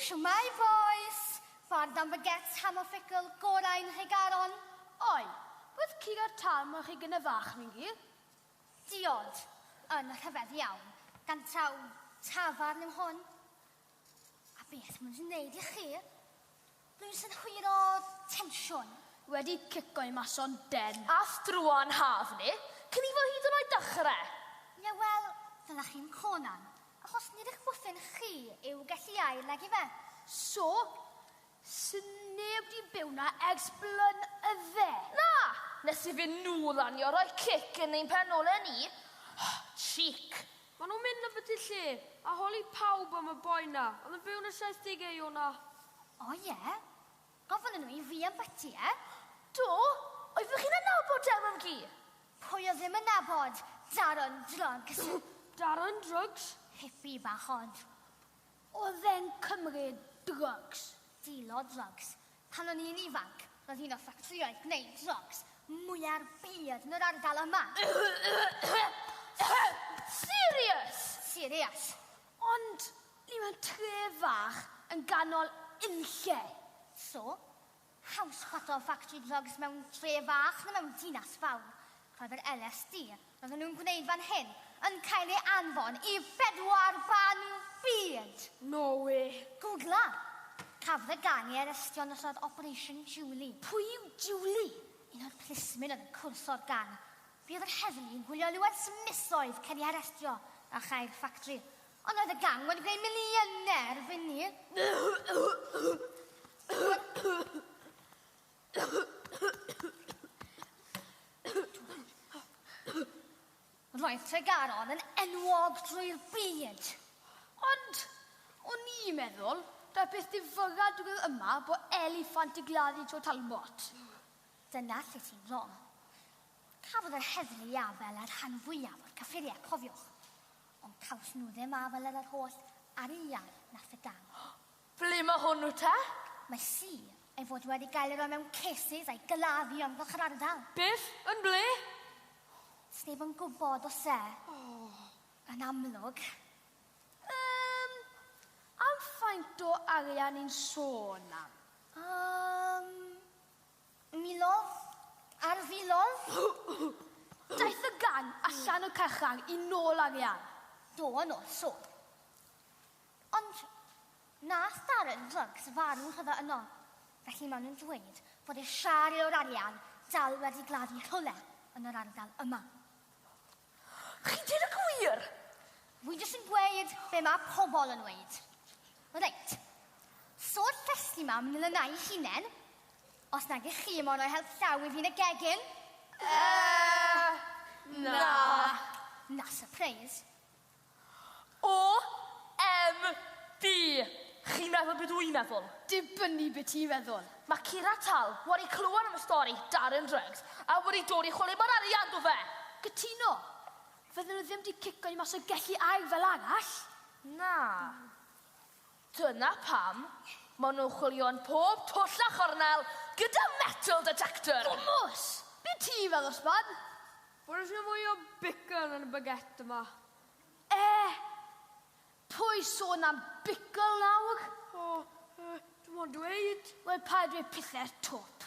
Shwmae bois! Ffordd am baguettes ham a ffycl gorau yn Nhregaron? Oi, beth cigai'r tarm o'ch chi gyda fach fi'n gul? Diod, yn rhyfedd iawn, gantaw tafarn yw hwn. A beth mae'n ei wneud i chi? Rwy'n synhwyr o tensiwn. Wedi cico i mas o'n den. A throi'n haf ni, cyn i fo hyd yn oed dechrau! Ie, wel, dylech chi'm Conan, achos nid eich bwthyn chi yw gallu ail lagu fe. So, sneb di byw na egs blyn ydde? Na! Nes i fy nhw lanio rhoi cic yn ein pen ole ni. Cheek! Maen nhw'n mynd am y tu lle, a holi pawb am y boi 'na oedd yn byw yn y saithdegau o' 'na. O ie? Gofynnyn nhw i fi am Betty, ie? Do! Oeddech chi'n anabod Darren Gee? Pwy oedd ddim yn nabod Darren Drugs? Darren Drugs? Hippie fach ond. Oedd e'n cymryd drygs? Dilo drygs. Pan o'n i'n ifanc, roedd un o ffactorïau gwneud drygs mwya'r byd yn yr ardal yma. Serious? Serious. Ond ni mewn tre fach yn ganol unlle. So? Haws chwarter o ffactri drygs mewn tre fach na mewn dinas fawr. Roedd yr LSD roedden nhw'n gwneud fan hyn yn cael ei anfon i phedwar rhan y byd! No wê! Gwgla! Cafodd e gael ei arestio yn ystod Operation Julie. Pwy yw Julie? Un o'r plismyn oedd yn cwrso'r gang. Buodd yr heddlu yn gwylio lywed smisoedd cael eu harestio a chau'r ffactri. Ond oedd y gang wedi gwneud miliynau erbyn ni. Roedd Tregaron yn enwog drwy'r byd. Ond, o'n i'n meddwl, daeth beth difyrra digwydd yma bo eliffant di gladdu to Talbot. Dyna lle ti'n wrong. Cafodd yr heddlu afael â'r rhan fwyaf o'r cyffuriau, cofiwch, ond cawson nhw ddim afael ar yr holl arian na thydan. Ble mae hwnnw te? Mae Sir ei fod wedi gael ei roi mewn cases a'i gyladdu am foch yr ardal. Beth? Yn ble? Sneb yn gwybod, os e. Oh. Yn amlwg. Ym, am faint o arian ni'n sôn am? Ym, Milodd ar filodd. Daeth y gan allan y carchar i nôl arian. Do, yn ôl sôn. Ond nath Darren Drugs farw rhyfel yno, felly maen nhw'n dweud bod y siâr yw'r arian dal wedi gladdu rhywle yn yr ardal yma. Chi'n dweud y gwir! Rwy jyst yn gweud be mae pobl yn weud. Reit. So'r llestri ma myn yna i hunen? Os nag i chi mo'n rhoi help llaw i fi yn y gegin? Yy, na. Na sypreis. OMG! Chi'n meddwl be dw i'n meddwl? Dibynnu be ti'n feddwl. Mae Kira Tal wedi clywed am y stori Darren Drugs a wedi dod i chwilio am yr arian do fe? Cytuno. Fydden nhw ddim di cico ni mas o gelli ail fel arall. Na. Dyna pam maen nhw'n chwilio yn pob twll a chornel gyda metal detector! Gwmws! Be ti fel os bad? Bod eisiau mwy o bicl yn y baguette yma. Eh! Pwy sôn am bicl nawr? O, yy, dwi'm ond dweud. Wel, paid dweud pethau i'r twp.